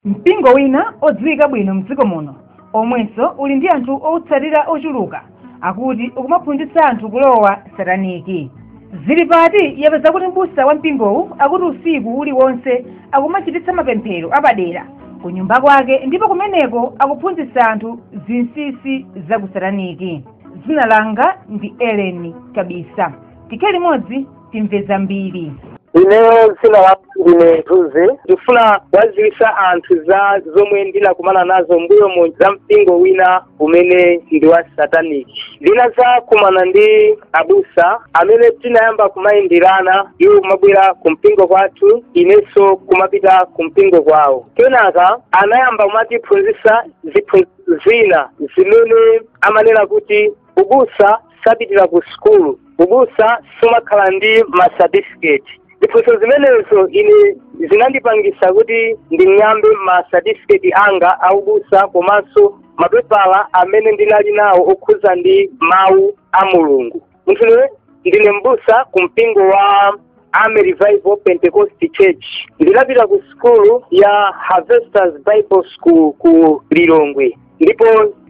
mpingo wina odziwika bwino mdziko muno omwenso uli ndi anthu owutsatira ochuluka akuti ukumaphunzitsa anthu kulowa sataniki zili pati yapeza kuti mbusa wa mpingowu akuti usiku uliwonse akumachititsa mapemphero apadera ku nyumba kwake ndipo kumeneko akuphunzitsa anthu zinsinsi za ku sataniki dzina langa ndi eleni kabisa tikhale limodzi timve zambiri ineyo dzina langa ndine mthunzi ndifuna kuwadziwitsa anthu za zomwe ndinakumana nazo m'mbuyomu za mpingo wina umene ndi wa satanic ndinazakumana ndi abusa amene tinayamba kumayenderana iwo kumabwera ku mpingo kwathu inenso kumapita ku mpingo kwawo kenaka anayamba kumatiphunzitsa ziphunzitso zina zimene amanena kuti ubusa sapitira ku sukulu ubusa sumakhala ndi ma certificate ziphunzitso zimenezo ine zinandipangisa kuti nding'ambe ma certificate anga aubusa komanso mapepala amene ndinali nawo okhuza ndi mawu a mulungu munthune ndine mbusa ku mpingo wa Army Revival Pentecost Church ndinapita ku sukulu ya Harvesters Bible School ku Lilongwe ndipo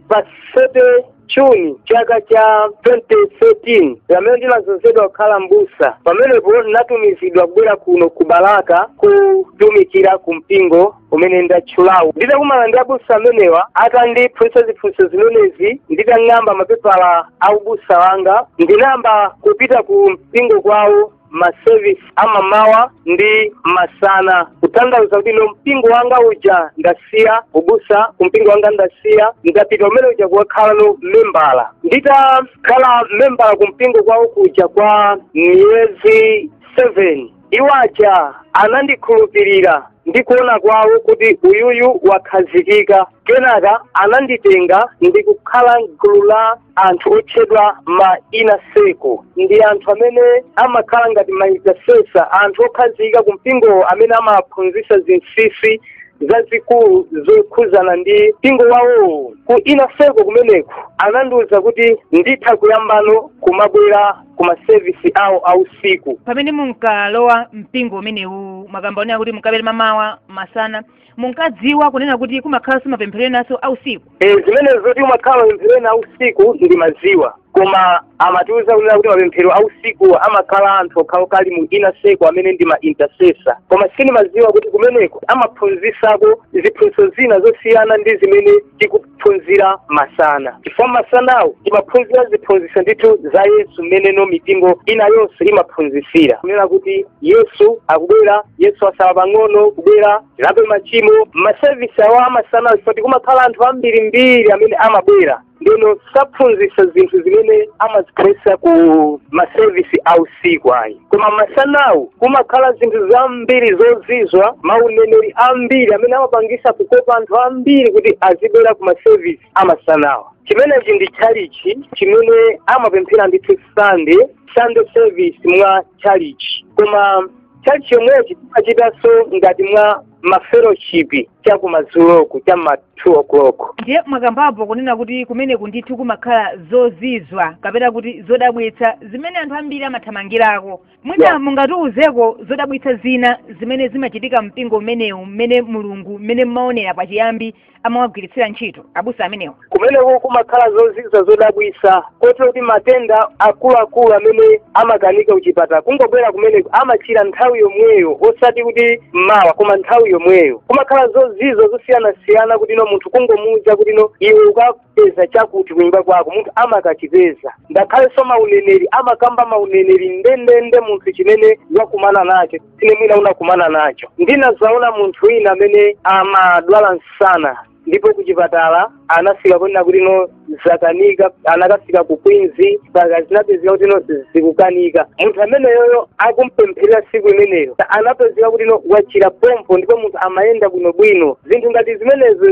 pa 30 June chaka cha 2013 pamene ndinazozedwa kukhala mbusa pamenepo ndinatumizidwa kubwera kuno ku Balaka kutumikira ku mpingo umene ndatchulawu nditakumana ndi abusa amenewa atandiphunzitsa ziphunzitso zimenezi nditang'amba mapepala a ubusa wanga ndinayamba kupita ku mpingo kwawo masevisi amamawa ndi masana kutanthauza kuti ku mpingo wanga uja ndasiya ubusa ku mpingo wanga ndasiya ndapita kumene kuja kukakhala no membala nditakhala membala ku mpingo kwawo kuja kwa miyezi 7 iwo aja anandikhulupirira ndi kuona kwawo kuti uyuyu wakhazikika kenaka ananditenga ndi kukhala m'gulu la anthu otchedwa ma ina seko ndi anthu amene amakhala ngati ma intercessor anthu okhazikika ku mpingowo amene amaphunzitsidwa zinsinsi zazikulu zokhuzana ndi mpingo wawowo ku ina seko kumeneko anandiwuza kuti nditha kuyambano kumabwera ku masevisi awo a usiku pamene munkalowa mpingo umenewu mwakamba zonena kuti munkabwera mamawa masana munkadziwa kunena kuti kumakhalanso mapemphero enanso a usiku e, zimenezo zoti kumakhala mapemphero ena a usiku ndimadziwa koma amatiuza kunena kuti mapemphero a usiku amakhala anthu okhaokha ali mu ina seko amene ndi ma intercessor koma sindimadziwa kuti kumeneko amaphunzisako ziphunzitso zina zosiyana ndi zimene tiku kuphunzira masana chifukwa masanawo timaphunzira ziphunzitso ndithu za yesu mmeneno mipingo ina yonse imaphunzitsira kunena kuti yesu akubwera yesu asala pang'ono kubwera tilape machimo masevisi awo amasanawo chifukwa choti kumakhala anthu ambirimbiri amene amabwera ndeno saphunzitsa zinthu zimene amaziphunzitsa ku masevisi a usiku ayi koma masanawo kumakhala zinthu zambiri zozizwa mauneneri ambiri amene amapangisa kukopa anthu ambiri kuti azibwera ku masevisi amasanawa chimenechi ndi tchalichi chimene amapemphera ndithu sande sande service mwa tchalichi koma tchalichi yomwechi timachitanso ngati mwa mafeloshipi cha kumadzuloku cha ma 2 o'clock ndiye mwakambapo kunena kuti kumeneku ndithu kumakhala zozizwa kapena kuti zodabwitsa zimene anthu ambiri amathamangirako mwina Yeah. mungatiuzeko zodabwitsa zina zimene zimachitika mpingo umenewu mmene mulungu mmene mmaonera pachiyambi amawagwiritsira ntchito abusa amenewa kumeneko kumakhala zozizwa zodabwisa kota kuti matenda akuluakulu amene amakanika kuchipatala kungobwera kumeneko amachira nthawi yomweyo osati kuti mmawa koma nthawi yomweyo kumakhala zozizwa zosiyanasiyana kuti no munthu kungomuuza kuti no iwe uka peza chakuti kunyumba kwako munthu amakachipeza ngakhalenso mauneneri amakamba mauneneri ndendende munthu chimene wakumana nacho dzana mwina unakumana nacho ndinazaona munthu wina amene amadwala msana ndipo kuchipatala anafika ponena kuti no zakanika anakafika ku Queens mpaka zinapezeka kuti no zikukanika munthu ameneyoyo akumpempherera siku imeneyo anapezeka kuti no wachira pompo ndipo munthu amayenda bwinobwino zinthu ngati zimenezo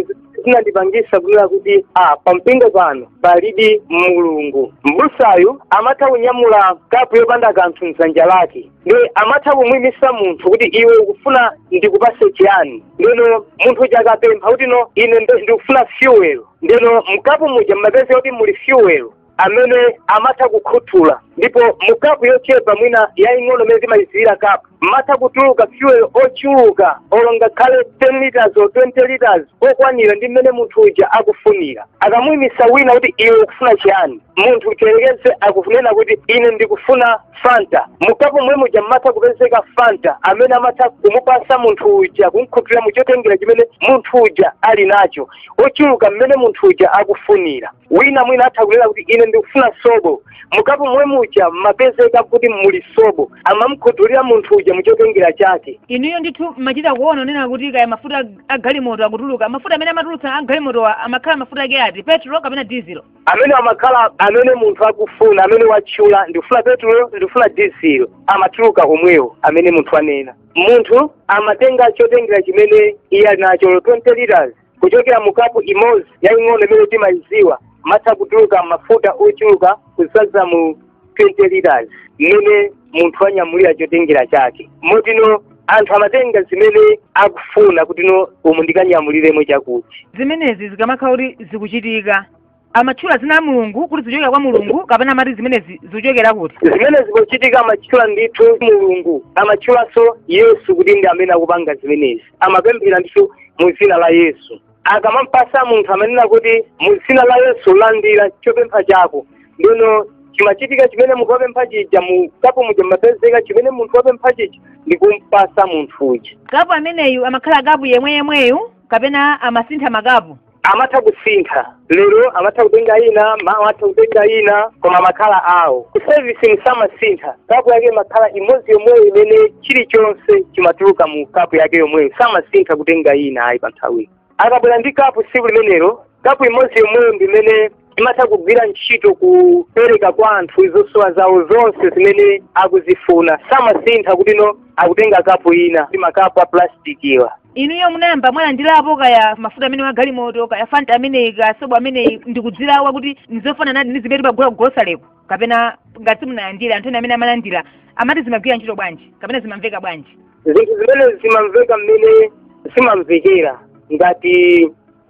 zinandipangisa kunena kuti ah, pampingo pano palidi mulungu mbusayu amatha kunyamula kapu yopanda kanthu mdzanja lake nde amatha kumwimisa munthu kuti iwe ukufuna ndikupase chiyani ndeno munthu uja akapempha kuti no ine ndikufuna fuel ndeno mkapu muja mmapeza kuti muli fuel amene amatha kukhuthula ndipo mu kapu yochepa mwina yaying'ono imene timayidziwira kapu mmatha kutuluka fuel ochuluka olo ngakhale 10 liters or 20 liters okwanira ndi mmene munthu uja akufunira akamuyimisa wina kuti iwe ukufuna chiyani munthu uja yerekeze akunena kuti ine ndikufuna fanta mukapu mwe muja mmatha kupezeka fanta amene amatha kumupasa munthu uja kumkhuthulira muchotengera chimene munthu uja ali nacho ochuluka mmene munthu uja akufunira wina mwina atha kunena kuti ine ndikufuna sobo mukapu momwe muja mmapezeka kuti muli sobo amamkhuthulira munthu uja muchotengera chake inuyo ndithu mmachita kuona kunena kuti kaya mafuta a galimoto akutuluka mafuta amene amatulutsa a galimotowa amakhala mafuta ake ati petro kapena dizilo amene amakhala amene munthu akufuna amene watchula ndikufuna petulo ndikufuna dizilo amatuluka omwewo amene munthu anena munthu amatenga chotengera chimene iye ali nacho olo 20 liters kuchokera mu kapu imodzi yaying'ono imene timayidziwa mmatha kutuluka mafuta ochuluka kudzadza mu 20 liters mmene munthu wanyamulira chotengera chake motino anthu amatenga zimene akufuna kutino umu ndikanyamuliremo chakuti zimenezi zikamakhala kuti zikuchitika amatchula zina la mulungu kuti zikuchokera kwa mulungu kapena amati zimenezi zikuchokera kuti zimenezi zikuchitika amatchula ndithu mulungu amatchulanso yesu kuti ndi amene akupanga zimenezi amapemphera ndithu mu dzina la yesu akamampasa munthu amanena kuti mu dzina la yesu landira chopempha chako ndino chimachitika chimene munthu wapempha chija mu kapu muja mmapezeka chimene munthu wapempha chija ndi kumpasa munthu uja kapu ameneyu amakhala kapu yemwe yemweyu kapena amasintha makapu amatha kusintha lero amatha kutenga ina mawa amatha kutenga ina koma amakhala awo ku service mu samasintha kapu yake imakhala imodzi yomweyo imene chilichonse chimatuluka mu kapu yake yomweyo samasintha kutenga ina ayi pa nthawiyo akabwera ndi kapu tsiku limenelo kapu imodzi yomweyo ndi imene imatha kugwira ntchito kupereka kwa anthu zosowa zawo zonse zimene akuzifuna samasintha kutino akutenga kapu ina ndi makapu a plastic awa inuyo munayamba mwalandirapo kaya mafuta amenewa agalimoto kaya fanta ameneyu kaya sobo ameneyu ndikuzilawa kuti ndizofananadi ndi zimene timagula kugosaleko kapena ngati simunalandira anthu ena amene amalandira amati zimagwira ntchito bwanji kapena zimamveka bwanji zinthu zimenezi zimamveka mmene zimamvekera ngati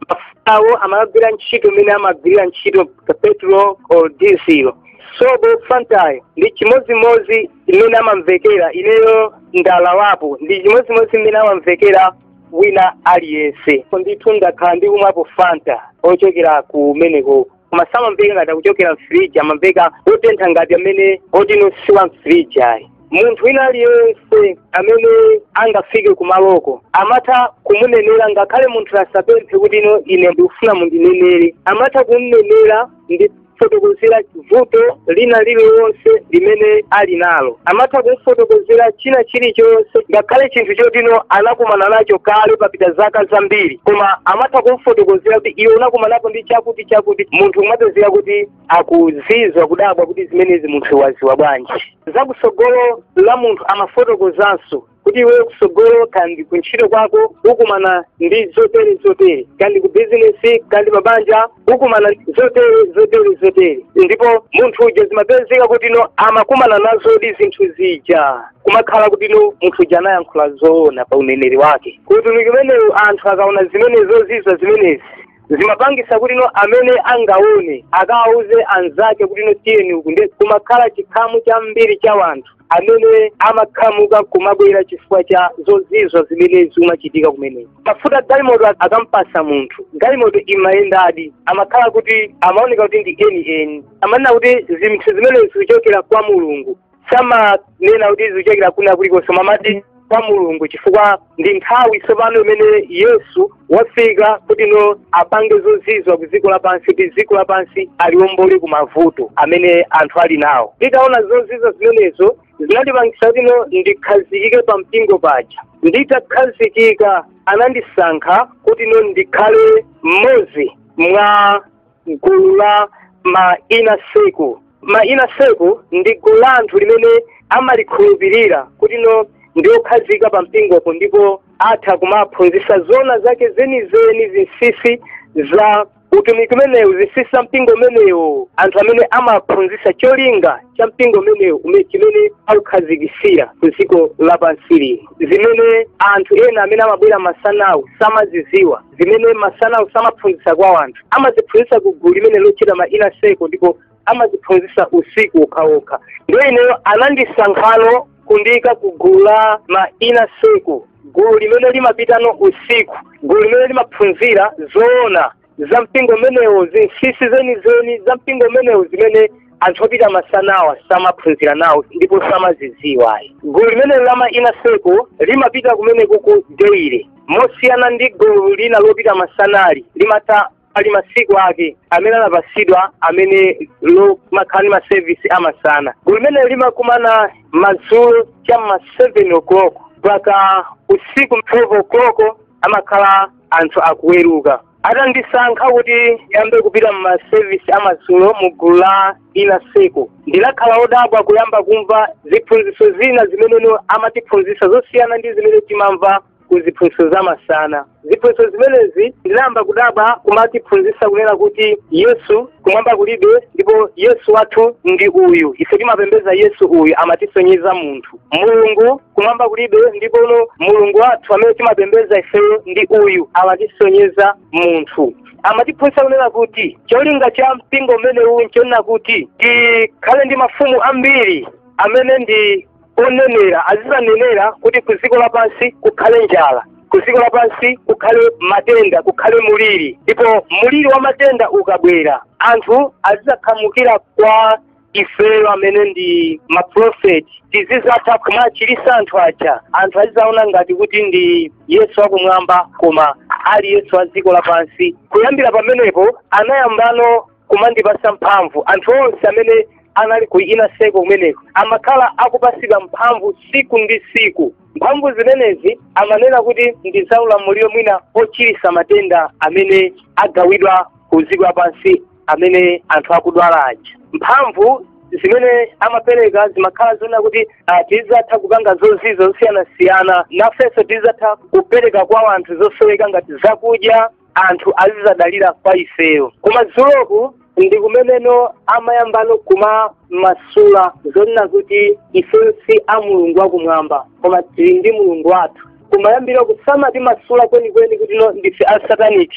mafutawo amagwira ntchito mmene amagwirira ntchito petrol or diesel sobo fantayo ndi chimodzimodzi mmene amamvekera ineyo ndalawapo ndi chimodzimodzi mmene amamvekera wina aliyense ndithu ndakhala ndikumwapo fanta ochokera kumeneko koma samamveka ngati akuchokera mfiriji amamveka otentha ngati amene otino si wa mfiriji ayi munthu wina aliyense amene angafike kumaloko amatha kumunenera ngakhale munthu asapemphe kuti ino ine ndikufuna mundinenere amatha kumnenera ndi kumfotokozera vuto lina lililonse limene ali nalo amatha kumfotokozera china chilichonse ngakhale chinthu chotino anakumana nacho kale papita zaka zambiri koma amatha kumfotokozera kuti iwe unakumanapo ndi chakuti chakuti munthu amapezeka kuti akuzizwa kudabwa kuti zimenezi munthu waziwa bwanji za kusogolo la munthu amafotokozanso kuti iweyo kusogolo kandi kuntchito kwako ukumana ndi zotere zotere kandi ku bizinesi kandi pabanja ukumana zotere zotere zotere ndipo munthu uja zimapezeka kutino amakumana nazodi zinthu zija kumakhala kutino munthu uja anayankhula zoona pa uneneri wake utumiki umenewu anthu akaona zimene zozizwa zimenezi zimapangisa kuti no amene angawone akawauze anzake kuti no tiyeni uku nde kumakhala chikhamu chambiri cha wanthu amene amakhamuka kumabwera chifukwa cha zozizwa zimene zimachitika kumeneko mafuta galimoto akamupasa munthu galimoto imayendadi amakhala kuti amaoneka kuti ndi eni eni amanena kuti zinthu zimene zikuchokera kwa mulungu samanena kuti zikuchokera kwina kulikonse amati kwa mulungu chifukwa ndi nthawi tsopano imene yesu wafika kuti no apange zozizwa ku dziko lapansi kuti dziko lapansi aliombole ku mavuto amene anthu ali nawo nditaona zozizwa zimenezo zinandipangisa kuti no ndikhazikike pa mpingo paja nditakhazikika anandisankha kuti no ndikhale mmodzi mwa gulu la ma inner circle ma inner circle ndi gulu la anthu limene amalikhulupirira kuti no ndi okhazikika pa mpingopo ndipo atha kumaphunzitsa zona zake zenizeni zinsinsi za utumiki umenewo zinsinsi za mpingo umenewo anthu amene amaphunzitsa cholinga cha mpingo umenewo ume- chimene aukhazikisira ku dziko lapansi lino zimene anthu ena amene amabwera masanawo samaziziwa zimene masanawo samaphunzitsa kwa anthu amaziphunzitsa ku gulu limene lotchedwa ma inner circle ndipo amaziphunzitsa usiku wokhaokha ndiye ineyo anandisankhano kundiyika ku gulu la ma inner circle gulu limene limapitano usiku gulu limene limaphunzira zoona za mpingo umenewo zinsinsi zenizeni za mpingo umenewo zimene anthu opita masanawa samaphunzira nawo ndipo samazidziwa gulu limenelo la ma inner circle limapita kumeneko ku deire mosiyana ndi gulu lina lopita masanali limatha lili ndi masiku ake amene anapatsidwa amene limakhala ndi masevisi amasana gulu limenelo limakumana madzulo cha ma 7 o'clock mpaka usiku 12 o'clock amakhala anthu akuweruka atandisankha kuti ndiyambe kupita m'masevisi amadzulo mu gulu la inner circle ndinakhala odabwa kuyamba kumva ziphunzitso zina zimene amatiphunzitsa zosiyana ndi zimene timamva ku ziphunzitso za masana ziphunzitso zimenezi ndinayamba kudabwa kumatiphunzitsa kunena kuti yesu kumwamba kulibe ndipo yesu wathu ndi uyu ife timapembeza yesu uyu amatisonyeza munthu mulungu kumwamba kulibe ndipono mulungu wathu amene timapembeza ifeyo ndi uyu amatisonyeza munthu amatiphunzitsa kunena kuti cholinga cha mpingo umenewu nchonena kuti tikhale ndi mafumu ambiri amene ndi onenera azizanenera kuti ku dziko lapansi kukhale njala ku dziko lapansi kukhale matenda kukhale muliri ndipo muliri wa matenda ukabwera anthu azizakhamukira kwa ifeyo amene ndi maprofeti tizizatha kumachirisa anthu aja anthu azizaona ngati kuti ndi yesu akumwamba koma ali yesu a dziko lapansi kuyambira pamenepo anayambano kumandipasa mphamvu anthu onse amene anali ku Nsaka kumeneko amakhala akupasidwa mphamvu siku ndi siku mphamvu zimenezi amanena kuti ndi za ulamuliro mwina ochirisa matenda amene agawidwa ku dziko lapansi amene anthu akudwala aja mphamvu zimene amapereka zimakhala zonena kuti ah, tizatha kupanga zozizwa zosiyanasiyana nafenso tizatha kupereka kwa anthu zosowekera ngati zakudya anthu azizadalira kwa ifeyo koma dzuloku ndi kumeneno amayambano kumamasula zonena kuti ifeyo si a mulungu wakumwamba koma tili ndi mulungu wathu kumayambiriroku samatimasula kwenikweni kuti no ndife a satanic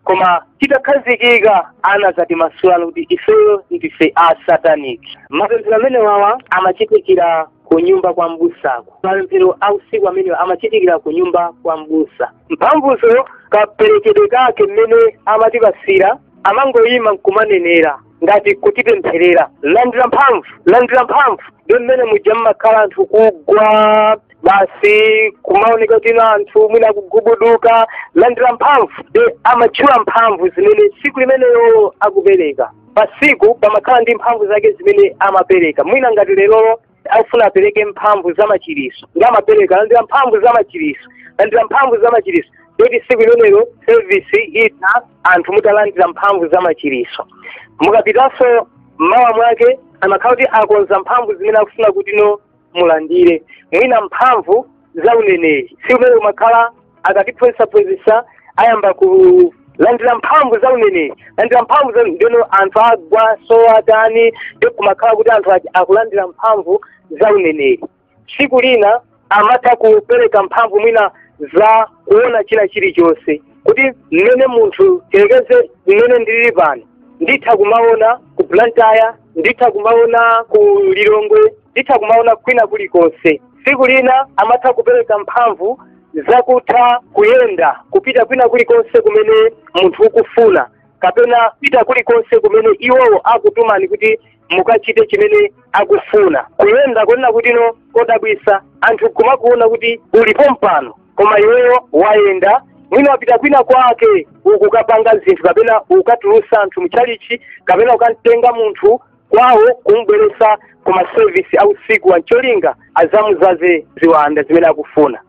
koma titakhazikika anazatimasulano kuti ifeyo ndife a satanic mapemphero amenewa amachitikira ku nyumba kwa mbusaku mapemphero a usiku amenewa amachitikira ku nyumba kwa mbusa mphamvuzo kaperekedwe kake mmene amatipasira amangoyima nkumanenera ngati kutipempherera landira mphamvu landira mphamvu nde mmene muja mmakhala anthu kugwa basi kumaoneka kuti ena anthu mwina akugubuduka landira mphamvu nde amatchula mphamvu zimene tsiku limenelo akupereka pasiku pamakhala ndi mphamvu zake zimene amapereka mwina ngati lerolo akufuna apereke mphamvu za machiriso nde amapereka landira mphamvu za machiriso landira mphamvu za machiriso ndoti siku limenelo sevisi itatha anthu mutalandira mphamvu za machiriso mukapitanso mmawa mwake amakhala kuti akonza mphamvu zimene akufuna kuti no mulandire mwina mphamvu za uneneri siku limenelo kumakhala akatiphunzitsaphunzitsa ayamba kulandira mphamvu za uneneri landira mphamvu za ndeno anthu agwa so atani nde kumakhala kuti anthu achi- akulandira mphamvu za uneneri tsiku lina amatha kupereka mphamvu mwina za kuona china chilichonse kuti mmene munthu tiyerekeze mmene ndilili pano nditha kumaona ku blantyre nditha kumaona ku lilongwe nditha kumaona kwina kulikonse tsiku lina amatha kupereka mphamvu zakutha kuyenda kupita kwina kulikonse kumene munthu ukufuna kapena kupita kulikonse kumene iwowo akutumani kuti mukachite chimene akufuna kuyenda kunena kuti no kodabwisa anthu kumakuona kuti uli pompano koma iweyo wayenda mwina wapita kwina kwake ukukapanga zinthu kapena ukatulusa anthu mchalichi kapena ukamtenga munthu kwawo kumubweretsa ku masevisi a usiku ancholinga azamudzaze ziwanda zimene akufuna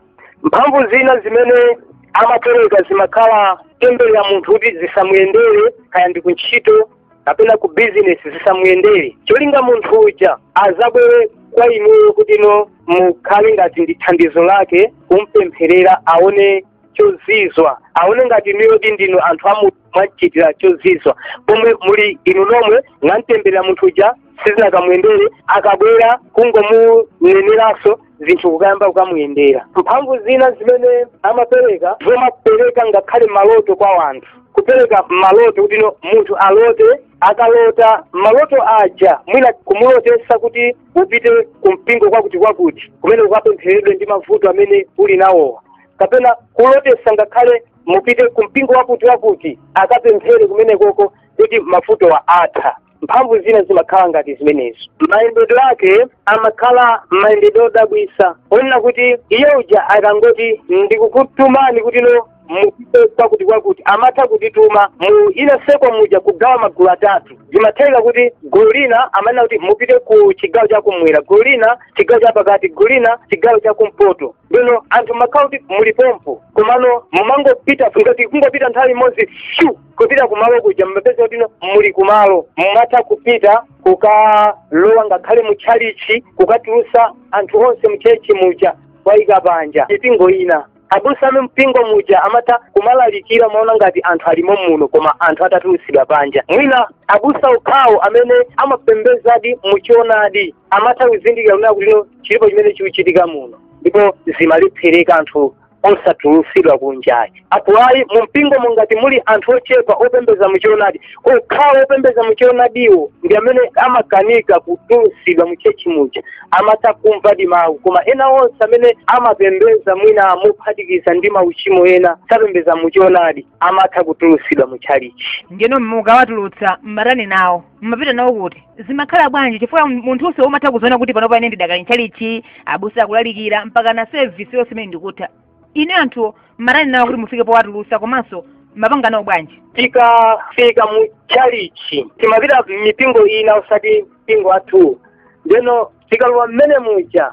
mphamvu zina zimene amapereka zimakhala temberera munthu kuti zisamuyendere kaya ndi kuntchito kapena ku bizinesi zisamuyendere cholinga munthu uja azabwere kwa inuyo kuti inu mukhale ngati ndi thandizo lake kumpempherera aone chozizwa aone ngati inuyo kuti ndinu anthu amu mwamuchitira chozizwa pomwe muli inu nomwe mwamtemberera munthu uja zisakamuyendere akabwera kungomuneneranso zinthu kukayamba kukamuyendera mphamvu zina zimene amapereka zomapereka ngakhale maloto kwa wanthu kupereka maloto kuti no munthu alote akalota maloto aja mwina kumulotesa kuti upite ku mpingo kwakuti kwakuti kumene ukapempheredwe ndi mavuto amene uli nawowo kapena kulotesa ngakhale mupite ku mpingo wakuti wakuti akapemphere kumenekoko kuti mavutowa atha mphamvu zina zimakhala ngati zimenezi mayendedwe ake amakhala mayendedwe odabwisa onena kuti iye uja akangoti ndikukutumani kuti inu mupite kwakuti kwakuti amatha kutituma mu ina seko muja kugawa magulu atatu zimatheka kuti gulu lina amanena kuti mupite ku chigawo chakumwera gulu lina chigawo chapakati gulu lina chigawo chakumpoto bwino anthu mumakhala kuti muli pompo komano mumangopita ngati kungopita nthawi imodzi shu kupita kumalo kuja mumapeza kuti inu muli kumalo mumatha kupita kukalowa ngakhale mu tchalichi kukatulusa anthu onse mtchalichi muja kuwaika panja mipingo ina abusa a mumpingo muja amatha kumalalikira amaona ngati anthu alimo muno koma anthu atatulusidwa panja mwina abusa okhawo amene amapembezadi muchonadi amatha kuzindikira kunena kuti lero chilipo chimene chikuchitika muno ndipo zimalephereka anthu osatulutsidwa kunja apo ayi mu mpingo mukati muli anthu ochepa opembeza muchionadi okhawo opembeza muchionadiwo ndi amene amakanika kutulutsidwa mutchetchi muja amatha kumvadi mawu koma ena onse amene amapembeza mwina mophatikiza ndi mauchimo ena sapembeza muchionadi amatha kutulutsidwa muchalichi ndiyeno mukawatulutsa mmatani nawo mumapita nawo kuti zimakhala bwanji chifukwa munthunso umatha kuziona kuti panopa ine ndidakali ntchalichi abusa akulalikira mpaka sevisi yonse imene ndi kutha ine anthuwo mmatani nawo kuti mufike powatulusa komanso mumapanga nawo bwanji tikafika mu chalichi timapita m'mipingo ina osati mpingo wathu ndeno tikalowa mmene muja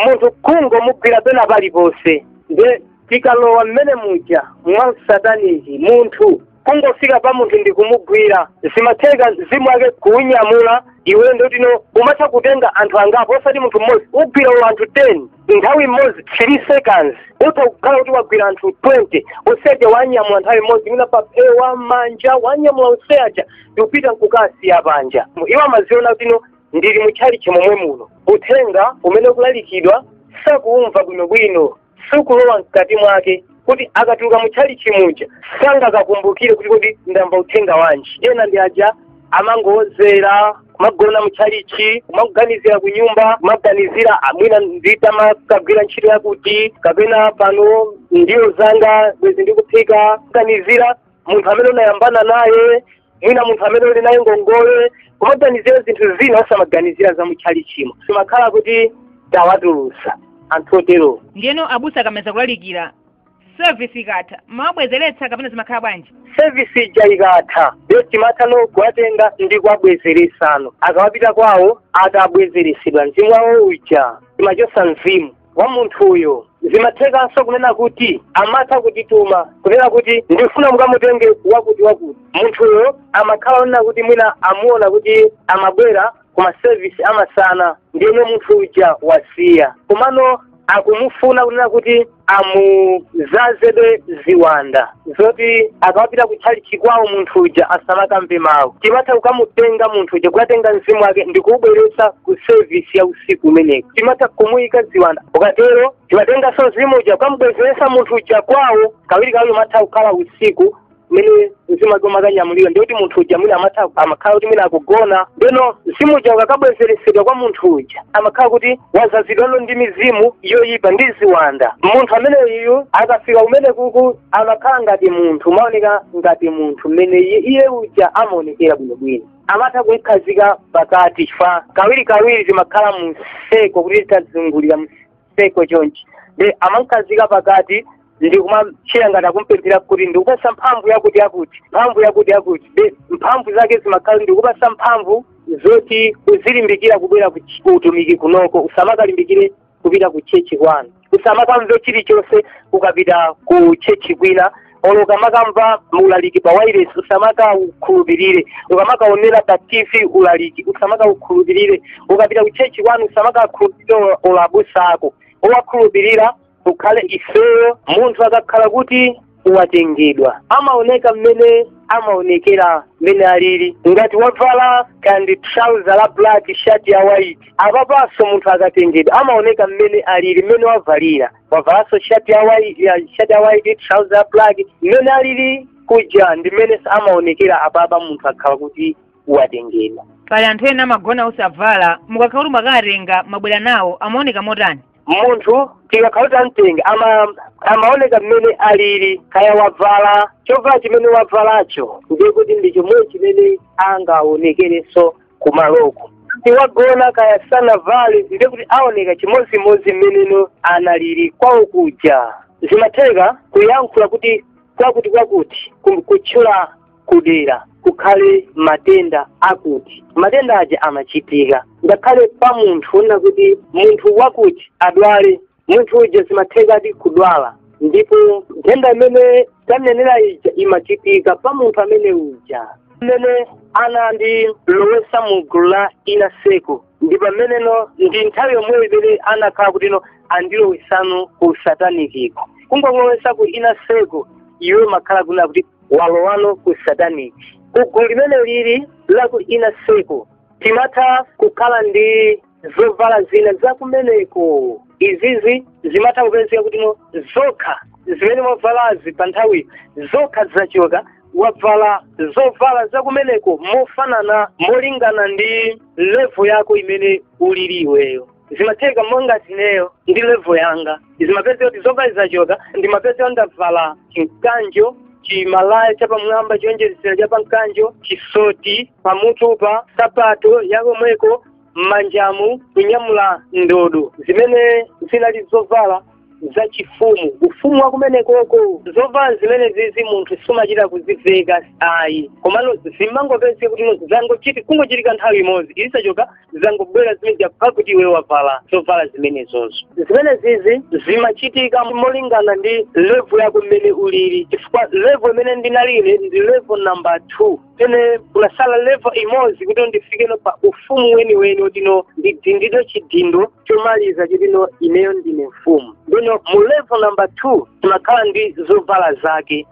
munthu kungomugwira pena paliponse nde tikalowa mmene muja mwa sataniki munthu kungofika pa munthu ndi kumugwira zimatheka mzimu wake kuunyamula iwe ndikutino umatha kutenga anthu angapo osati munthu mmodzi ugwira iwo anthu 10 nthawi imodzi 3 seconds utha kukhala kuti wagwira anthu 20 useja wanyamula nthawi imodzi mwina pa phewa manja wanyamula useja ndikupita nkukasiya panja iwo amadziona kutino ndili mu tchalitchi momwe muno uthenga umene ukulalikidwa sakuumva bwinobwino sukulowa mkati mwake kuti akatuluka mu tchalitchi muja sangakakumbukire kuti kodi ndamva uthenga wanji ena ndi aja amangowozera kumagona mu tchalitchi kumaganizira ku nyumba kumaganizira mwina nditamakagwira ntchito yakuti kapena pano ndiwo zanga bwezi ndikuphika kumaganizira munthu amene unayambana naye mwina munthu amene uli naye ngongole kumaganizira zinthu zina osamaganizira za mutchalichimo zimakhala kuti tawatulusa anthu oterowo ndiyeno abusa akamaliza kulalikira service ikatha mumawabwezeretsa kapena zimakhala bwanji sevisi ija ikatha ndiyo timathano kuwatenga ndi kuwabwezeresano akawapita kwawo atabwezeresedwa mzimu wawo uja timachosa mzimu wa munthuyo zimathekanso kunena kuti amatha kutituma kunena kuti ndikufuna mukamutenge wakuti wakuti munthuyo amakhala onena kuti mwina amuona kuti amabwera ku masevisi amasana ndiyeno munthu uja wasiya komano akumufuna kunena kuti amuzazebe ziwanda zoti akapita kutchalitchi kwawo munthu uja asamakamve mawu timatha kukamutenga munthu uja kukatenga mzimu wake ndi kuubweretsa ku sevisi ya usiku kumeneko timatha kumuyika ziwanda tikatero timatenganso mzimu uja kukamubwezeretsa munthu uja kwawo kawiri kawiri umatha kukhala usiku kumene mzimu wake timakaunyamulira ndikuti munthu uja mwina amatha amakhala kuti mwina akugona ndeno mzimu uja ukakabwezeretsedwa kwa munthu uja amakhala kuti wazazidwano ndi mizimu yoyipa ndi ziwanda munthu ameneyu akafika kumeneku amakhala ngati munthu amaoneka ngati munthu mmene iye iye uja amaonekera bwinobwino amatha kumkhazika pakati chifukwa kawiri kawiri timakhala mu seko kuti tazungulira mu seko chonchi nde amamkhazika pakati ndikumachita ngati akumpempherera kuti ndikupasa mphamvu yakuti yakuti mphamvu yakuti yakuti nde mphamvu zake zimakhala ndikupasa mphamvu zoti uzilimbikira kubwera ku ch- ku utumiki kunoko usamakalimbikire kupita ku chechi kwanu usamakamve chilichonse ukapita ku chechi kwina olo ukamakamva ulaliki pa wireless usamakaukhulupirire ukamakaonera pa tv ulaliki usamakaukhulupirire ukapita ku chechi kwanu usamakakhulupirire olo abusa ako owakhulupirira ukhale ifeyo munthu akakhala kuti watengedwa amaoneka mmene amaonekera mmene alili ngati wavala kandi trouser la black shirt ya white apapanso munthu akatengedwa amaoneka mmene alili mmene wavalira wavalanso shirt ya white ya shirt ya white trouser la black mmene alili kuja ndi mmenenso amaonekera apapa munthu akhala kuti watengedwa pali anthu ena amagona osavala mukakhala kuti mwakawatenga mwabwera nawo amaoneka motani munthu tikakhala kuti tamtenga ama amaoneka mmene alili kaya wavala chovala chimene wavalacho ndiye kuti ndi chomwe chimene angaonekerenso kumaloko ngati wagona kaya sanavale ndiye kuti aoneka chimodzimodzi mmeneno analili kwawo kuja zimatheka kuyankhula kuti kwakuti kwakuti kum- kutchula kudera kukhale matenda akuti matenda aja amachitika ngakhale pa munthu onena kuti munthu wakuti adwale munthu uja zimathekadi kudwala ndipo nthenda imene tanenera ija imachitika pa munthu amene uja mmene anandilowesa mu gulu la inner circle ndi pameneno ndi nthawi yomweyo imene anakhala kutino andilowesano ku sataniki kungokulowesa ku inner circle iwe umakhala kunena kuti walowano ku satanic kugulu limene lili la ku inner circle timatha kukhala ndi zovala zina zakumeneko izizi zimatha kupezeka kuti no zokha zimene wavalazi pa nthawiyo zokha zachoka wavala zovala zakumeneko mofanana molingana ndi level yako imene ulili iweyo zimatheka monga ngati ineyo ndi level yanga zimapezeka kuti zovala zachoka ndimapezeka ndavala chimkanjo chimalaya chapamwamba choonjezera cha pamkanjo chisoti pamutupa sapato yakomweko m'manjamu kunyamula ndodo zimene zinali zovala zachifumu ufumu wa kumenekoko zovala zimenezizi munthu sumachita kuziveka ayi komano zimangopezeka kuti no zangochiti kungochitika nthawi imodzi izi zachoka zangobwera zimene zakupha kuti iwe wavala zovala zimenezozo zimenezizi zimachitika molingana ndi level yako mmene ulili chifukwa level imene ndinali ine ndi level number two pamene kunasala level imodzi kuti ndifikeno pa ufumu weniweni wotino ndidindidwe chidindo chomaliza chotino ineyo ndine mfumu ndiyeno mu level number two timakhala ndi zovala zake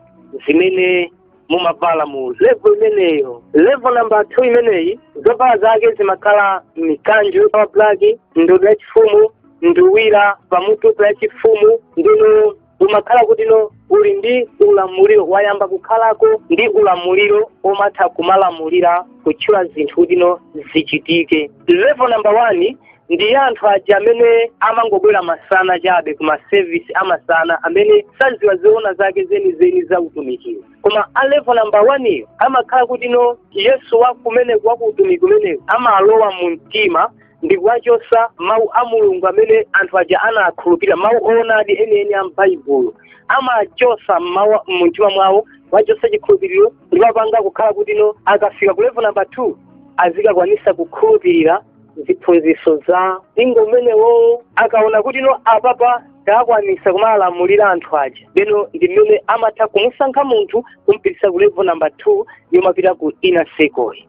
zimene mumavala mu level imeneyo level number two imeneyi zovala zake zimakhala mikanjo ya black ndodo yachifumu nduwira pamutupa yachifumu ndiyeno umakhala kutino uli ndi ulamuliro wayamba kukhalako ndi ulamuliro omatha kumalamulira kutchula zinthu kutino zichitike level number one ndi anthu aja amene amangobwera masana chabe ku masevisi amasana amene saziwa zoona zake zenizeni za utumikiwo koma a level number one amakhala kutino yesu wakumeneko wa ku utumiki umenewu amalowa mu mtima ndi kuwachosa mawu a mulungu amene anthu aja anakhulupirira mawu oonadi enieni a m'baibulo amachosa mawu mumtima mwawo kuwachosa chikhulupiriro ndi kuwapanga kukhala kuti no akafika ku level number two azikakwanisa kukhulupirira ziphunziso za mpingo umenewowo akaona kuti no apapa takwanisa kumawalamulira anthu aja lero ndi mmene amatha kumusankha munthu kumpitisa ku level number two yomapita ku inner circle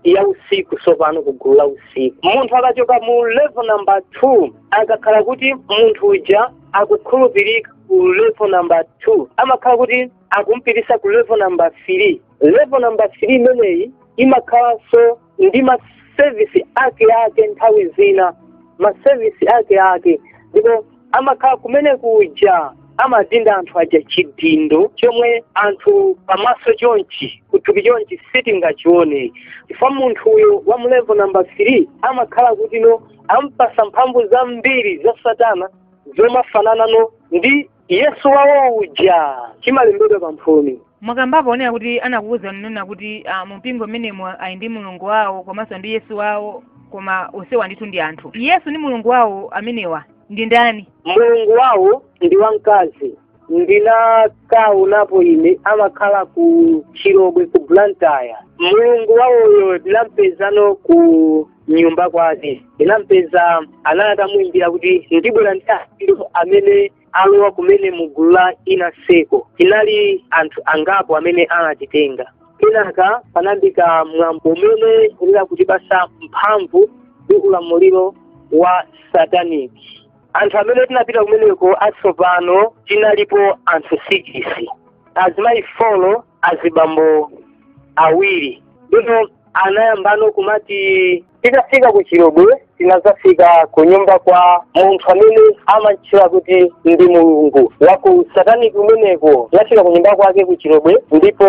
ya usiku tsopano ku gulu la usiku munthu akachoka mu level number two akakhala kuti munthu uja akukhulupirika ku level number two amakhala kuti akumpitisa ku level number three level number three imeneyi imakhalanso ndi masevisi ake ake nthawi zina masevisi ake ake ndipo amakhala kumene kuja amadinda anthu aja chidindo chomwe anthu pamaso chonchi kuthupi chonchi sitingachione chifukwa munthuyo wa mu level number three amakhala kuti no ampasa mphamvu zambiri za satana zomafanana no ndi yesu wawo uja chimalembedwa pamphumi mwakambapo onena kuti anakuwuzani kunena kuti ah, mumpingo mmenemo ali ndi mulungu wawo komanso ndi yesu wawo koma onsewa ndithu ndi anthu yesu ndi mulungu wawo amenewa ndi ndani mulungu wawo ndi wamkazi ndinakaonapo ine amakhala ku chilobwe ku blantyre mulungu wawoyo ndinampezano ku nyumba kwake ndinampeza anali atamuyimbira kuti ndibwera ndi anthu amene alowa kumene mu gulu la inner circle tinali anthu angapo amene anatitenga kenaka panayambika mwambo umene unena kutipasa mphamvu ndi ulamuliro wa sataniki anthu amene tinapita kumeneko atsopano tinalipo anthu sikisi azimayi folo azibambo awiri ndipo anayambano kumati titafika ku chilobwe tinazafika ku nyumba kwa munthu amene amantchula kuti ndi mulungu wa ku sataniki kumeneko tinafika ku nyumba kwake ku chilobwe ndipo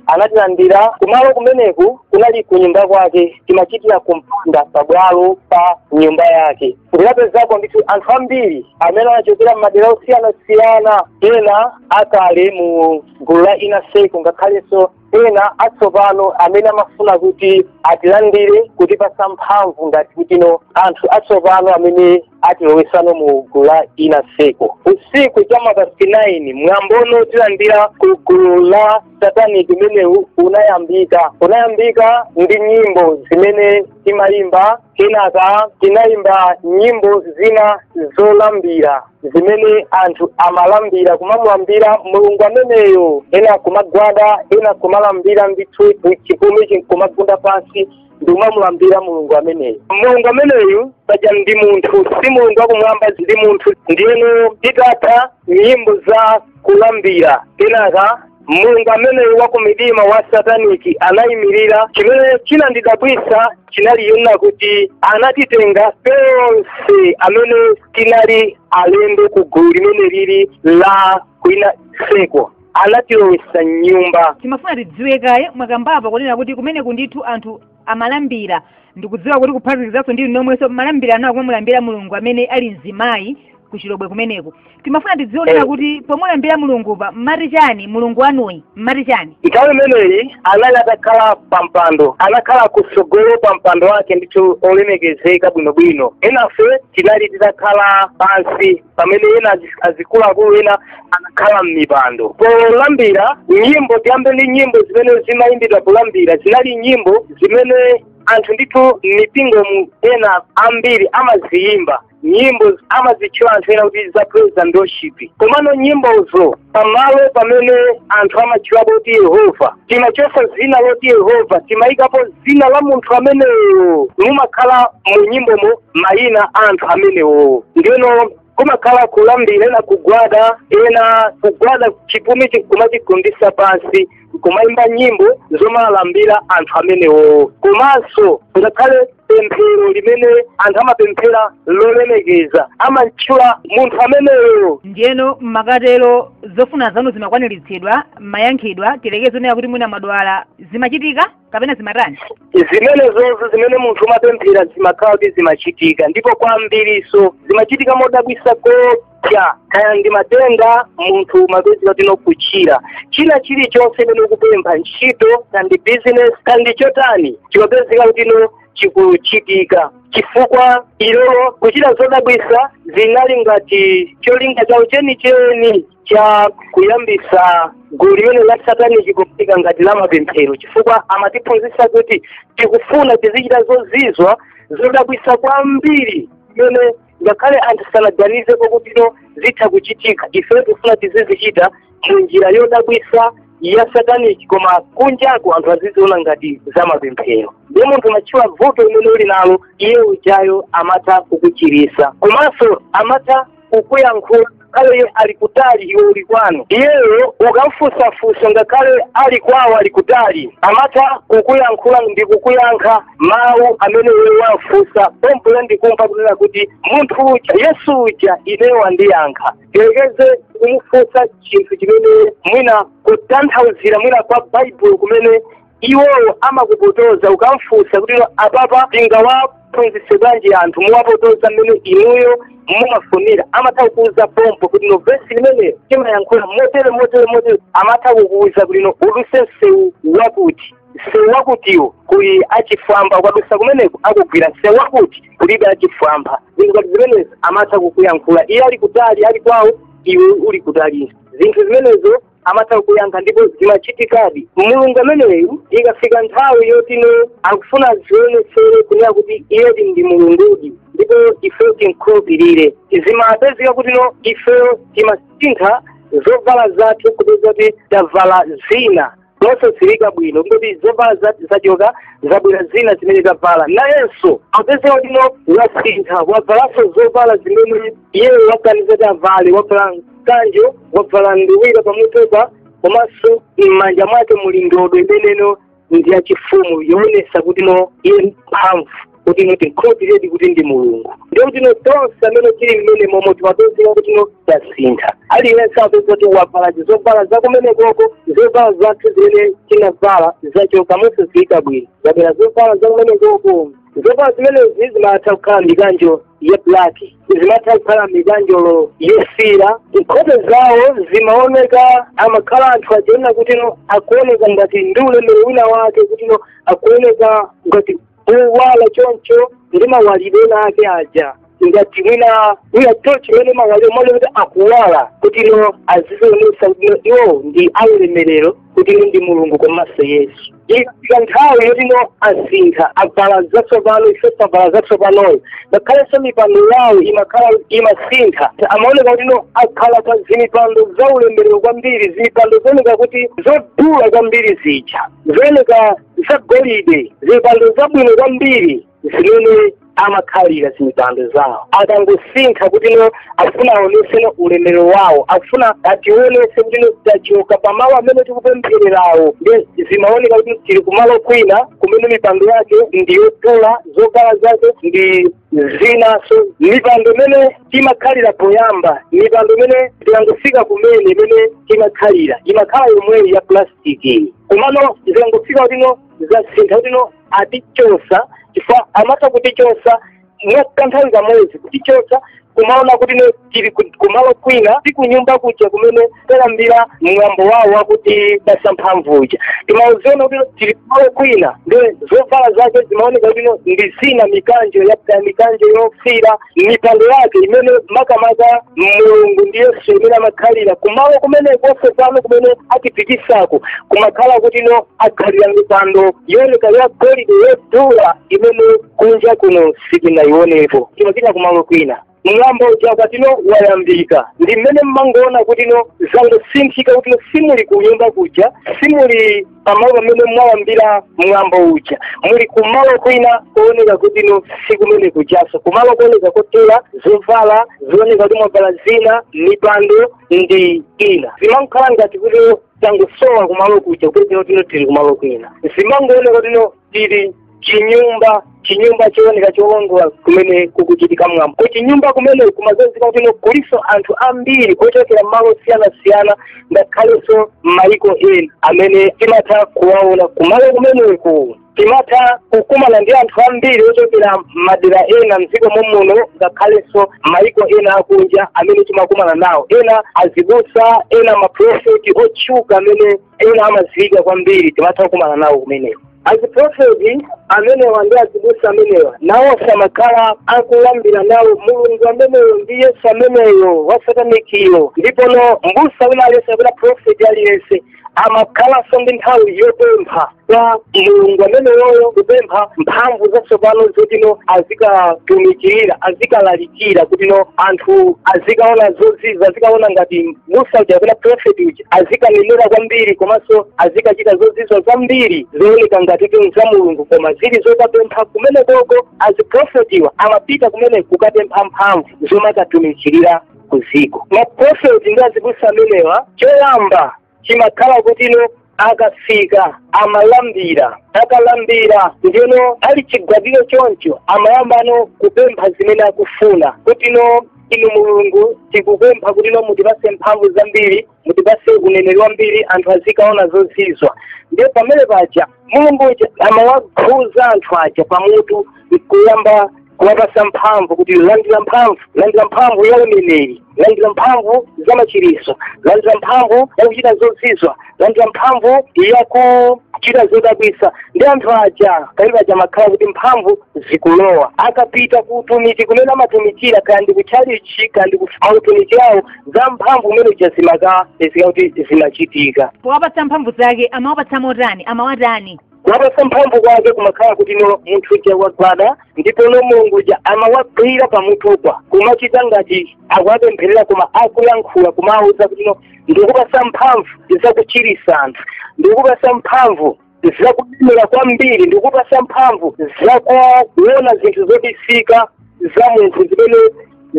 anatilandira kumalo kumeneku kunali ku nyumba kwake timachitira kumpanda pabwalo pa nyumba yake ndinapezako ndithu anthu ambiri amene anachokera m'madera osiyanasiyana ena akale mu gulu la inner circle ngakhalenso ena atsopano amene amafuna kuti atilandire kutipasa mphamvu ngati kuti ndi anthu atsopano amene atilowesano mu gulu la Nyaseko usiku cha mapasti 9 mwambono wotilandira ku gulu la satanic umenewu unayambika unayambika ndi nyimbo zimene timayimba kenaka tinayimba nyimbo zina zolambira zimene anthu amalambira kumamulambira mulungu ameneyo ena kumagwada ena kumalambira ndithu chipumi nkumagunda pansi ndi kumamulambira mulungu ameneyo mulungu ameneyu paja ndi munthu si mulungu wakumwamba ndi munthu ndiyeno titatha nyimbo za kulambira kenaka mulungu ameneyo wa ku midima wa sataniki anayimirira chimene chinandidabwitsa chinali chonena kuti anatitenga tonse amene tinali alendo ku gulu limeneli la kwa Nyaseko anatilowesa mnyumba timafuna tidziwe kaye mwakambapa kunena kuti kumeneku ndithu anthu amalambira ndikudziwa kuti kuphatikizanso ndi inu omwenso mmalambira anawo kumamulambira mulungu amene ali mzimayi ku chilobwe kumeneku timafuna tidziwe kunena kuti pomulambira mulungu pa mmati chani mulungu wanuyi mmati chani nthawi imeneyi anali atakhala pa mpando anakhala kutsogolo pa mpando wake ndithu olemekezeka bwinobwino enafe tinali titakhala pansi pamene ena azi- azikuluakulu ena anakhala m'mipando polambira nyimbo tiyambe ndi nyimbo zimene zimayimbidwa kulambira zinali nyimbo zimene anthu ndithu m'mipingomu ena ambiri amaziyimba nyimbo amazitchula anthu ena kuti za praise and worship komano nyimbozo pamalo pamene anthu amatchulapo kuti yehova timachosa dzina loti yehova timayikapo dzina la munthu ameneyo mumakhala mu nyimbomo mayina a anthu amenewo ndiyeno kumakhala kulambira ena kugwada ena kugwada chipumichi kumachigundisa pansi kumayimba nyimbo zomalambira anthu amenewo komanso ngakhale pemphero limene anthu amapemphera lolemekeza amamtchula munthu ameneyo ndiyeno mukatero zofuna zanu zimakwaniritsidwa mmayankhidwa tiyerekeze kunena kuti mwina mwadwala zimachitika kapena zimatani zimene zonse zimene munthu umapemphera zimakhala kuti zimachitika ndipo kwambiriso zimachitika modabwisa koopsa kaya ndi matenda munthu umapezeka kuti ukuchira china chilichonse chimene ukupempha ntchito kaya ndi business kaya ndi chotani chimapezeka kuti no chikuchitika chifukwa iwowo kuchita zodabwisa zinali ngati cholinga chawo chenicheni cha kuyambisa gulu limene la sataniki koma ngati la mapemphero chifukwa amatiphunzitsa kuti tikufuna tizichita zozizwitsa zodabwisa kwambiri imene ngakhale anthu sanaganizepo kuti no zitha kuchitika ifeyo tikufuna tizizichita mu njira yodabwisa ya sataniki koma kunjako anthu aziziona ngati za mapemphero ndiye munthu umatchula vuto limene uli nalo iye ujayo amatha kukuchirisa komanso amatha kukuyankhula ngakhale iye ali kutali iwe uli kwanu iyeyo ukamfunsa funso ngakhale ali kwawo ali kutali amatha kukuyankhula ndi kukuyankha mawu amene iwe wamfunsa pompo iwe ndikumva kunena kuti munthu uja yesu uja ineyo wandiyankha tiyerekeze kumufunsa chinthu chimene mwina kutanthauzira mwina kwa baibulo kumene iwowo amakupotoza ukamfunsa kuti no apapa tingawaphunzitse bwanji anthu kuwapotoza mmene inuyo mumafunira amatha kukuuza pompo kuti no vesi limeneyo timayankhula motere motere motere amatha kukuuza kuti no udutse msewu wakuti msewu wakutiwo kuli achifwamba ukadutsa kumeneko akugwira msewu wakuti kulibe achifwamba zinthu ngati zimenezo amatha kukuyankhula iye ali kutali ali kwawo iwe uli kutali zinthu zimenezo amatha kukuyankha ndipo zimachitikadi mulungu ameneyu ikafika nthawi yoti no akufuna azionetsere kunena kuti iyedi ndi mulungudi ndipo ifeyo timkhulupirire zimapezeka kuti no ifeyo timasintha zovala zathu kupeza kuti tavala zina zosaziwika bwino kuti zovala zathu zachoka zabwera zina zimene tavala nayenso wapezeka kuti no wasintha wavalanso zovala zimene iyeyo waganiza kuti avale wavala mkanjo wabvala nduwira pamutupa komanso m'manja mwake muli ndodo imeneyo ndi yachifumu yoonesa kuti no iye mphamvu kuti no timkhulupirire ndi kuti ndi mulungu ndiye kuti no tonse amene tili mmenemomo timapezeka kuti no tasintha aliyense apeza kuti wabvala zobvala zakumene koko zobvala zathu zimene tinavala zachoka mosaziwika bwino zabwera zobvala zakumene koko zovala zimenezi zimatha kukhala mikanjo ya black zimatha kukhala mikanjo yofiira nkhope zawo zimaoneka amakhala anthu achina kuti no akuoneka ngati ndi ulemero wina wake kuti no akuoneka ngati owala choncho ndi mawalidwe ake aja ngati mwina mwina tochi mmene imawalira muja kuti akuwala kuti no azizionesa kuti no iwo ndi aulemerero kuti no ndi mulungu komanso yesu ikafika nthawi yoti no asintha avala zatsopano ife tavala zatsopanozo ngakhalenso mipando yawo imakhala imasintha amaoneka kuti no akhala pa zimipando za ulemerero kwambiri zimipando zooneka kuti zodula kwambiri zija zooneka zagolide zimipando zabwino kwambiri zimene amakhalira zimipando zawo akangosintha kuti no akufuna aonese no ulemero wawo akufuna ationese kuti no tachoka pamalo amene tikupempherera ndiye zimaoneka kuti tili kumalo kwina kumene mipando yake ndi yodula zovala zake ndi zinanso mipando imene timakhalira poyamba mipando imene tikangofika kumene imene timakhalira imakhala yomweyi ya plastic iyi komano zikangofika kuti no zasintha kuti no atichosa chifukwa amatha kutichosa mwa kanthawi kamodzi kutichosa kumaona kuti no tili ku- kumalo kwina si kunyumba kuja kumene tayambira mwambo wawo wakuti kupasa mphamvu uja timauziona kuti no tili kumalo kwina ndiye zovala zake zimaoneka kuti no ndi zina mikanjo ya mikanjo yofira mipando yake imene makamaka mulungu ndi yesu imene amakhalira kumalo kumeneko nde pano kumene atipikisako kumakhala kuti no akhalira mipando yooneka ya golide yodula imene kunja kuno sitinayioneko timapita kumalo kwina mwambo uja kuti no wayambika ndi m'mene mmangoona kuti no zangosinthika kuti no simuli kunyumba kuja simuli pamalo pamene mwayambira mwambo uja muli kumalo kwina kooneka kuti no si kumene kujaso kumalo kooneka kotera zovala zooneka kuti mwavala zina mipando ndi ina zimangokhala ngati kuti tangosowa kumalo kuja kuonetsa kuti no tili kumalo kwina zimangooneka kuti no tili chinyumba chinyumba chooneka cholondola kumene kukuchitika mwambo ku chinyumba kumeneko kumadziwika kuti no kulinso anthu ambiri ochokera malo osiyanasiyana ngakhalenso m'mayiko ena amene timatha kuwaona kumalo kumeneku timatha kukumana ndi anthu ambiri ochokera madera ena mdziko momuno ngakhalenso mayiko ena akunja amene timakumana nawo ena azibusa ena maprofeti otchuka amene ena amadziwika kwambiri timatha kukumana nawo kumeneko aziprofeti amenewa ndi azibusa amenewa nawo amakhala akulambira nawo mulungu ameneyo ndi yesu ameneyo wasatanikiyo ndipono mbusa wina aliyense kapena profeti aliyense amakhalanso ndi nthawi yopempha kwa mulungu ameneyoyo kupempha mphamvu zatsopano zoti no azikatumikirira azikalalikira kuti no anthu azikaona zozizwa azikaona ngati mbusa uja kapena profeti uja azikanenera kwambiri komanso azikachita zozizwa zambiri zooneka ngati kuti za mulungu koma zili zokapempha kumenekoko aziprofetiwa amapita kumeneko kukapempha mphamvu zomwe akatumikirira kuziko maprofeti ndi azibusa amenewa choyamba chimakhala kutino akafika amalambira akalambira ndiye no ali chigwadiro choncho amayambano kupempha zimene akufuna kutino inu mulungu tikupempha kutino mutipase mphamvu zambiri mutipase uneneri wambiri anthu azikaona zozizwa ndiye pamene paja mulungu uja amawakhuza anthu aja pamutu nkuyamba kuwapasa mphamvu kuti landira mphamvu landira mphamvu ya uneneri landira mphamvu za machiritso landira mphamvu ya kuchita zozizwa landira mphamvu ya kuchita zodabwisa ndi anthu aja pamene paja amakhala kuti mphamvu zikulowa akapita ku utumiki kumene amatumikira kaya ndi kutchalichi kaya ndi maUtumiki awo za mphamvu zimene zija zimakapezeka kuti zimachitika powapatsa mphamvu zake amawapatsa motani amawatani kuwapatsa mphamvu kwake kumakhala kutino munthu uja wagwada ndipono mulungu uja amawagwira pamutupo kumachita ngati akuwapempherera koma akulankhula kumawauza kutino ndikupatsa mphamvu zakuchiritsa anthu ndikupatsa mphamvu zakulemera kwambiri ndikupasa mphamvu zakuona zinthu zobisika za munthu zimene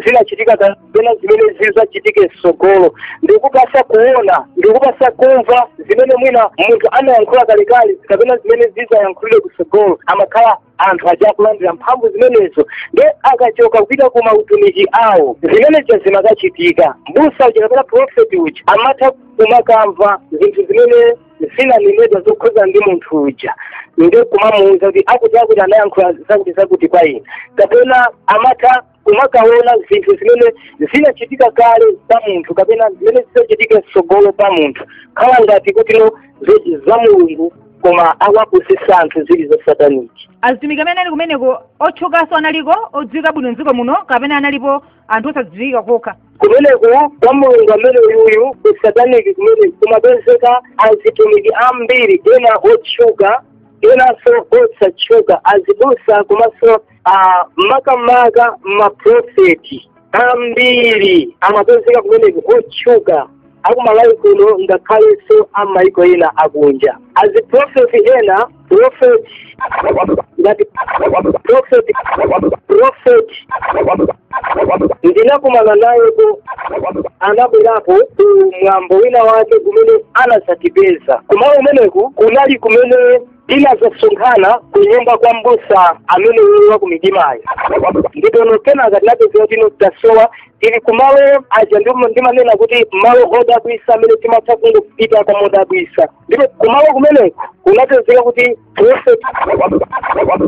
zinachitika kapena zimene zizachitike mtsogolo ndikupasa kuona ndikupasa kumva zimene mwina munthu anayankhula kalekale kapena zimene zizayankhulidwe kutsogolo amakhala anthu aja akulandira mphamvu zimenezo ndiye akachoka kupita ku mautumiki awo zimene zija zimakachitika mbusa uja kapena profeti uja amatha kumakamva zinthu zimene zinanenedwa zokhuza ndi munthu uja nde kumamuuza kuti akuti akuti anayankhula zakuti zakuti kwa ena kapena amatha kumakaona zinthu zimene zinachitika kale pa munthu kapena zimene zidzachitika mtsogolo pa munthu khala ngati kutino zo- za mulungu koma akuwapusisa anthu zili za sataniki azitumiki amene anali kumeneko otchukanso analiko odziwika bwino mdziko muno kapena analiko anthu osadziwika kokha kumeneko kwa mulungu amene uyuyu kusataniki kumeneko kumapezeka azitumiki ambiri ena otchuka enanso osatchuka azibusa komanso ah, makamaka maprofeti ambiri amapezeka kumeneko otchuka akumalawi kuno ngakhalenso a maiko ena akunja aziprofeti ena profeti ngati profeti profeti ndinakumana nawepo anabwerapo ku mwambo wina wake kumene anazatipeza kumalo kumeneku kunali kumene tinazasonkhana ku nyumba kwa mbusa amene uyu wakumidimayo ndipono kenaka tinapezeka kutino tasowa tili kumalo aja ndipo ndimanena kuti malo odabwisa amene timatha kungopita kaya modabwisa ndipo kumalo kumeneko kunapezeka kuti profeti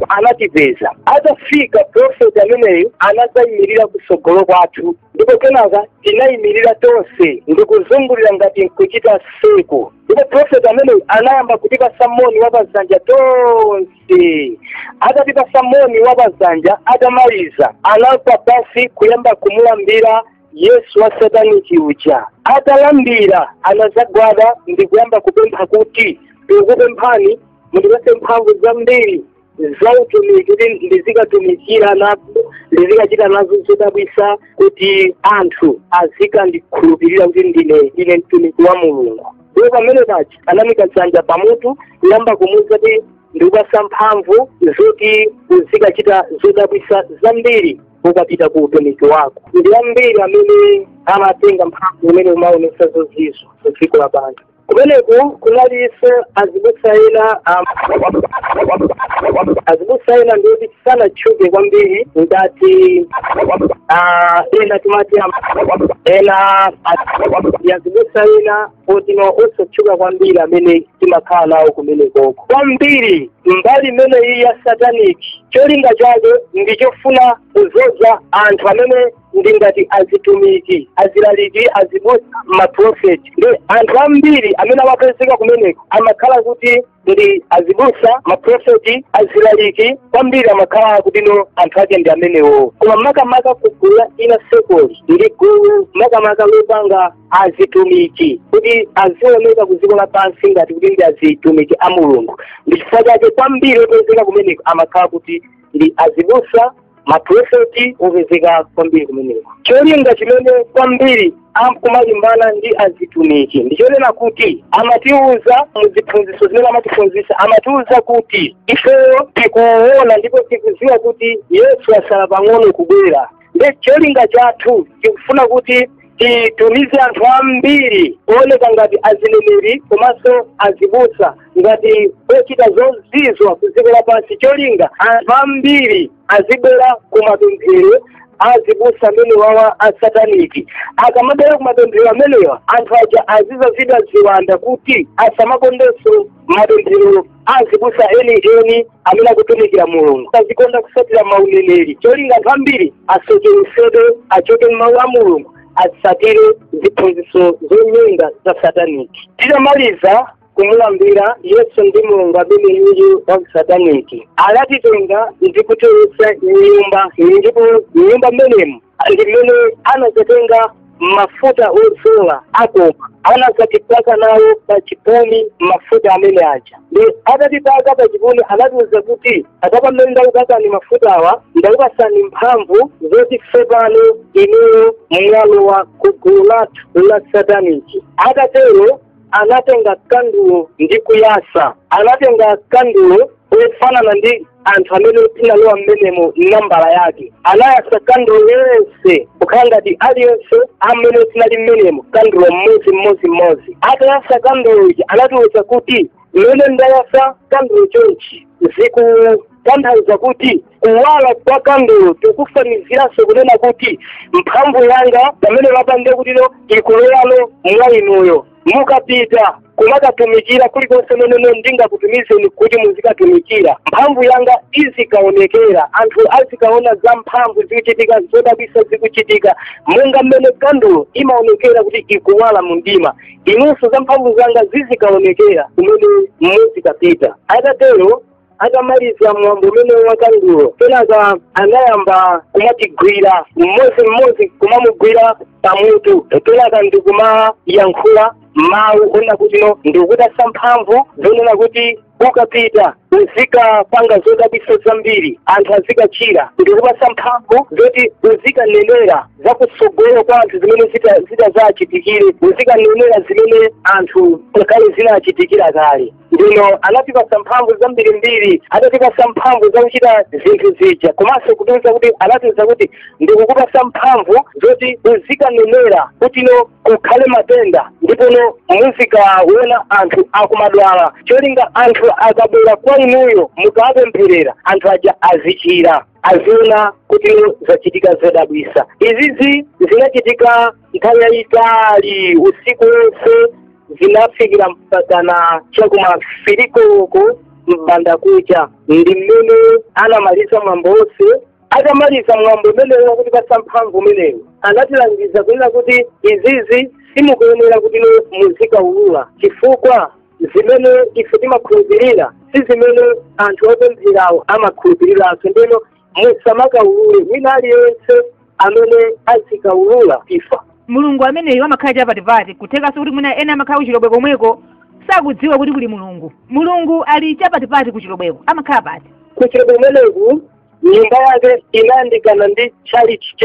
anatipeza atafika profeti ameneyo anadzayimirira kusogolo kwathu ndipo kenaka tinayimirira tonse ndikuzungulira ngati nkuchita circle ndipo profeti ameneyu anayamba kutipasa moni wa pazanja tonse atatipasa moni wa pazanja atamaliza anagwa pansi kuyamba kumulambira yesu wa sataniki uja atalambira anazagwada ndi kuyamba kupempha kuti tikupemphani mundipase mphamvu zambiri za utumiki kuti ndizikatumikira nazo ndizikachita nazo zodabwisa kuti anthu azikandikhulupirira kuti ndine ndine mtumiki wa mulungu ndipo pamene pake anamuika dzanja pamutu kuyamba kumuuza kuti ndikupasa mphamvu zoti uzikachita zodabwisa zambiri ukapita ku utumiki wako ndi ambiri amene amatenga mphamvu umene umaonesa zozizwa ku dziko lapansi kumeneko kunalinso azibusa ena am- azibusa ena ndi oti sanatchuke kwambiri ngati ah, ena timati am- ena a- ndi azibusa ena oti ndi osatchuka kwambiri amene timakakhala nawo kumenekoko kwambiri mbali imeneyi ya satanic cholinga chake ndi chofuna kuzodza anthu amene ndi ngati azitumiki azilaliki azibusa maprofeti ndi anthu ambiri amene amapezeka kumeneko amakhala kuti ndi azibusa maprofeti azilaliki kwambiri amakhala kuti no anthu ake ndi amenewo koma makamaka kugulu la inner circle-li ndi gulu makamaka lopanga azitumiki kuti azioneka ku dziko lapansi ngati kuti ndi azitumiki a mulungu ndi chifukwa chake kwambiri opezeka kumeneko amakhala kuti ndi azibusa maprofeti opezeka kwambiri kumeneko cholinga chimene kwambiri akumalimbana ndi azitumiki ndichonena kuti amatiuza muziphunzitso zimene amatiphunzitsa amatiuza kuti ifeyo tikuona ndipo tikuziwa kuti yesu asala pang'ono kubwera nde cholinga chathu tikufuna kuti titumize anthu ambiri ooneka ngati azineneri komanso azibusa ngati ochita zozizwa ku dziko lapansi cholinga anthu ambiri azibwera ku mapemphero azibusa amene wawa asataniki akamabwera ku mapemphero amenewa anthu aja azizazidwa ziwanda kuti asamakondenso mapemphero azibusa eni eni amene akutumikira mulungu azikonda kusatira mauneneri cholinga anthu ambiri asocheresedwe achoke m'mawu a mulungu atsatire ziphunzitso zonyenga za sataniki titamaliza kumulambira yesu ndi mulungu amene yuyu wa sataniki anatitenga ndi kutilowetsa m'nyumba ndipo m'nyumba mmenemu ndi mmene anazatenga mafuta odzola akoma anazatipaka nawo pa chipumi mafuta amene aja nde atatipaka pa chipumi anatiuza kuti apapa mmene ndakupakani mafutawa ndakupasani mphamvu zoti tsopano inuyo mwalowa ku gulu lathu la sataniki atatero anatenga kandulo ndi kuyasa anatenga kandulo ofanana ndi anthu amene tinalowa mmenemo nambala yake anayasa kandulo zonse kukhala ngati aliyense amene tinali mmenemo kandulo mmodzi mmodzi mmodzi atayasa kandulo ija anatiwuza kuti mmene ndayasa kandulo chonchi zikutanthauza kuti kuwala kwa kandulo tikufanizira no kunena kuti mphamvu yanga imene ndapanga kuti no ikulowa no mwa inuyo mukapita kumakatumikira kulikonse komwe ndingakutumizeni kuti muzikatumikira mphamvu yanga izikaonekera anthu azikaona za mphamvu zikuchitika zodabwisa zikuchitika monga mmene kandulo imaonekera kuti ikuwala mu mdima inunso za mphamvu zanga zizikaonekera kumene muzikapita atatero atamaliza mwambo umenewo wa kandulo kenaka anayamba kumatigwira mmodzi mmodzi kumamugwira pamutu kenaka ndikumayankhula mawu onena kuti no ndikupasa mphamvu zonena kuti ukapita uzikapanga zodabwitsa zambiri anthu azikachira ndikupasa mphamvu zoti uzikanenera za kutsogolo kwa anthu zimene zita- zitazachitikire uzikanenera zimene anthu akale zinachitikira kale ndiye no anatipasa mphamvu zambirimbiri adatipasa mphamvu zakuchita zinthu zija komanso kutiuza kuti anatiuza kuti ndikukupasa mphamvu zoti uzikanenera kuti no kukhale matenda ndipo no muzikaona anthu akumadwala cholinga anthu akabwera kwa inuyo mukawapempherera anthu aja azichira aziona kuti no zachitika zodabwisa izizi zinachitika nthawi yayitali usiku wonse zinafikira mpakana cha kuma fili koloko m'banda kucha ndi mmene anamaliza mwambo wonse atamaliza mwambo umenewu wakutipatsa mphamvu umenewu anatilangiza kunena kuti izizi simukuyenera kuti no muzikaulula chifukwa zimene ife timakhulupirira si zimene anthu opempherawo amakhulupiriranso nde no musamakaulule wina aliyense amene azikaulula afa mulungu ameneyo amakhala chapatipati kuthekanso kuti mwina ena amakhala kuchilobwe komweko sakudziwa kuti kuli mulungu mulungu ali chapatipati kuchilobweko amakhala pati kuchilobwe kumeneku nyumba yake inayandikana ndi tchalichi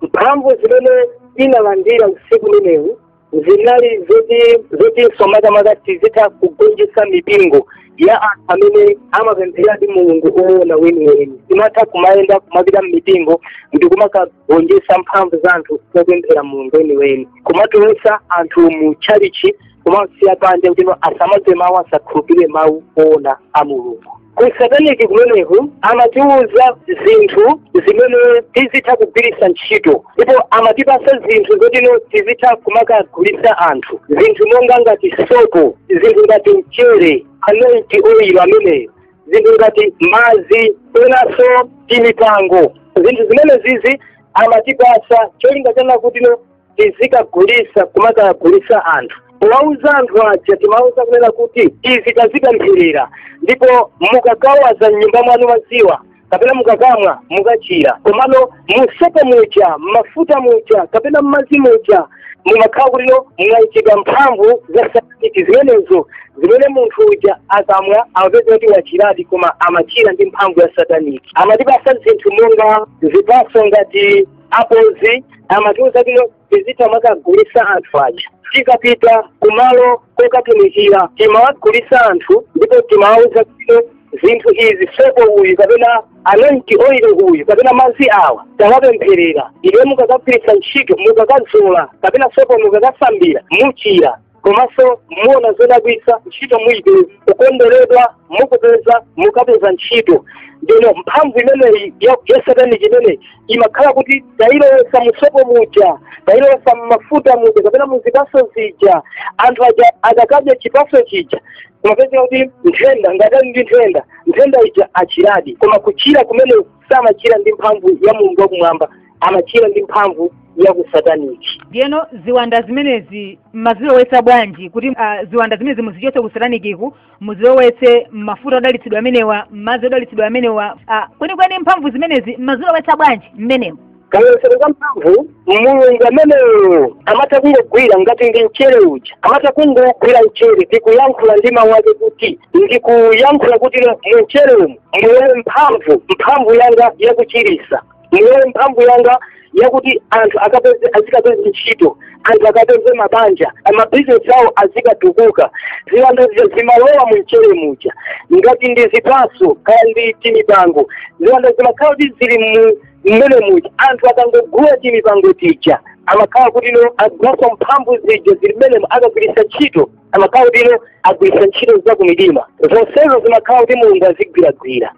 mphamvu zimene tinalandira usiku umenewu zinali zoti no makamaka tizitha kugonjetsa mipingo ya anthu amene amapempheradi mulungu oona weniweni timatha kumayenda kumapita mmipingo ndi kumakagonjetsa mphamvu za anthu opemphera mulungu weniweni kumatulutsa anthu mu tchalichi kumasiya panja kuti no asamamve mawu asakhulupirire mawu oona a mulungu kusataniki kumeneku amatiuza zinthu zimene tizitha kugwiritsa ntchito ndipo amatipasa zinthu zotino tizitha kumakagulitsa anthu zinthu monga ngati sopo zinthu ngati mchere anointing oil ameneyo zinthu ngati madzi penanso timipango zinthu zimenezizi amatipasa cholinga chonena kutino tizikagulisa kumakagulisa anthu powauza anthu aja timauza kunena kuti izi tazipempherera ndipo mukakawaza mnyumba mwanu maziwo kapena mukakamwa mukachira komano musopa muja mmafuta muja kapena mmazi muja mumakhala kutino mwaikidwa mphamvu za satanic zimenezo zimene munthu uja akamwa amapeza kuti wachiradi koma amachira ndi mphamvu ya satanic amatipasa zinthu monga zipatso ngati apozi amatiuza kutino tizitha kumakagulisa anthu aja tikapita kumalo kokatumikira timawagulisa anthu ndipo timawauza kutino zinthu izi sopo uyu kapena anointing oil uyu kapena madzi awa tawapempherera iye mukakagwiritsa ntchito mukakazola kapena sopo mukakasambira muchira komanso muona zodabwitsa ntchito muipeza kukonderedwa mukapeza mukapeza ntchito ndeno mphamvu imeneyi ya ya satanic imeneyi imakhala kuti tayilowesa musopo muja tayilowesa mmafuta muja kapena muzipaso zija anthu aja akakadya chipaso chija kumapezeka kuti nthenda ngati ali ndi nthenda nthenda ija achiradi koma kuchira kumene samachira ndi mphamvu ya mulungu wakumwamba amachira ndi mphamvu ya kusataniki ndiyeno ziwanda zimenezi mmazilowetsa bwanji kuti ah, ziwanda zimenezi muzichotse kusatanikiku muzilowetse mmafuta odalitsidwa amenewa mmadzi odalitsidwa amenewa ah, kwenikweni mphamvu zimenezi mmazilowetsa bwanji mmenemo kaizeroziro ka mphamvu mulungu ameneyo amatha kungogwira ngati ndi mchere uja amatha kungogwira mchere ndikuyankhula ndi mawu ake kuti ndikuyankhula kuti mu mchere umu mulowe mphamvu mphamvu yanga yakuchirisa mulowe mphamvu yanga yakuti anthu akapeze azikapeze ntchito anthu akapeze mabanja amabizinesi awo azikatukuka ziwanda zija zimalowa mu mchere muja ngati ndi zipaso kaya ndi timipango ziwanda zimakhala kuti zili mu mmenemuja anthu akangogula timipango tija amakhala kutino agulaso mphamvu zija zili mmenemo akagwiritsa ntchito amakhala kutino agwiritsa ntchito za kumidima zonsezo zimakhala kuti mulungu azigwiragwira